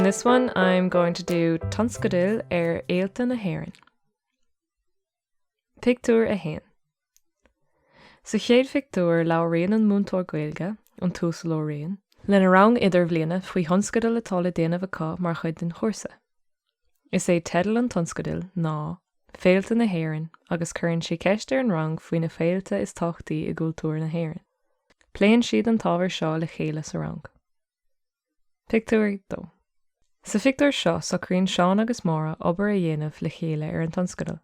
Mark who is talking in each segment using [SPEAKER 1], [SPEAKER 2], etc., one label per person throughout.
[SPEAKER 1] In this one I'm going to do tionscadail ar fhéilte na hÉireann. Pictiúr 1 Sa chéad phictiúr labhraíonn an múinteoir Gaeilge, an tUasal Ó Riain, lena rang idirbhliana faoi thionscadal atá le déanamh acu mar chuid den chúrsa. Is é teideal an tionscadail ná 'Féilte na hÉireann' agus cuireann sé ceist ar an rang faoi na féilte is tábhachtaí i gcultúr na hÉireann. Pléann siad an t-ábhar seo le chéile sa rang. Pictiúr 2 Sa phictiúr seo socraíonn Seán agus Máire obair a dhéanamh le chéile ar an tionscadal.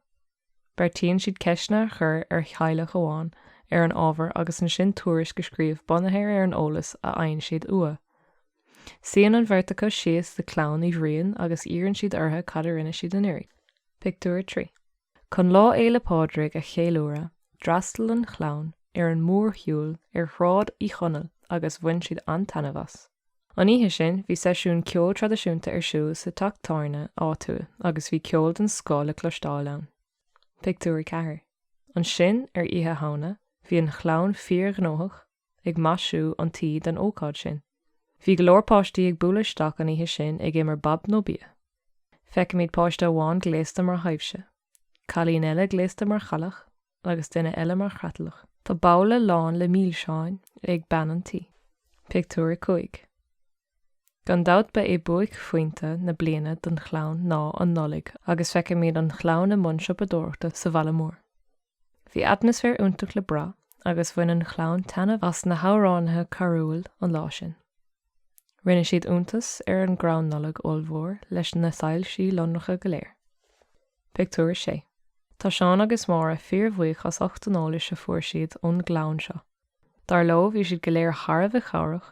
[SPEAKER 1] Beartaíonn siad ceisteanna a chur ar theaghlach amháin ar an ábhar agus ansin tuairisc a scríobh bunaithe ar an eolas a fhaigheann siad uathu. Suíonn an bheirt acu síos le clann Uí Bhriain agus iarrann siad orthu cad a rinne siad anuraidh. Pictiúr 3. Chun Lá Fhéile Pádraig a cheiliúradh, d'fhreastail an chlann ar an mórshiúl ar Shráid Uí Chonaill agus bhain siad an-taitneamh as. An oíche sin, bhí seisiún ceoil traidisiúnta ar siúl sa teach tábhairne áitiúil agus bhí ceol den scoth le cloisteáil ann. Pictiúr 4 Ansin, ar Oíche Shamhna, bhí an chlann fíorghnóthach, ag maisiú an tí don ócáid sin. Bhí go leor páistí ag bualadh isteach an oíche sin ag imirt bob nó bia. Feicimid páiste amháin gléasta mar thaibhse, cailín eile gléasta mar chailleach agus duine eile mar chreatlach. Tá babhla lán le milseáin ag bean an tí. Pictiúr a cúig. Gan dabht ba é buaicphointe na bliana don chlann ná an Nollaig agus feicimid an chlann i mbun siopadóireachta sa bhaile mór. Bhí atmaisféar iontach le brath agus bhain an chlann taitneamh as na hamhránaithe carúil an lá sin. Rinne siad iontas ar an gcrann Nollag ollmhór leis na soilsí lonracha go léir. Pictiúr 6 Tá Seán agus Máire fíorbhuíoch astu ucht an eolais a fuair siad ón gclann seo. Dar leo bhí siad go léir thar a bheith cabhrach.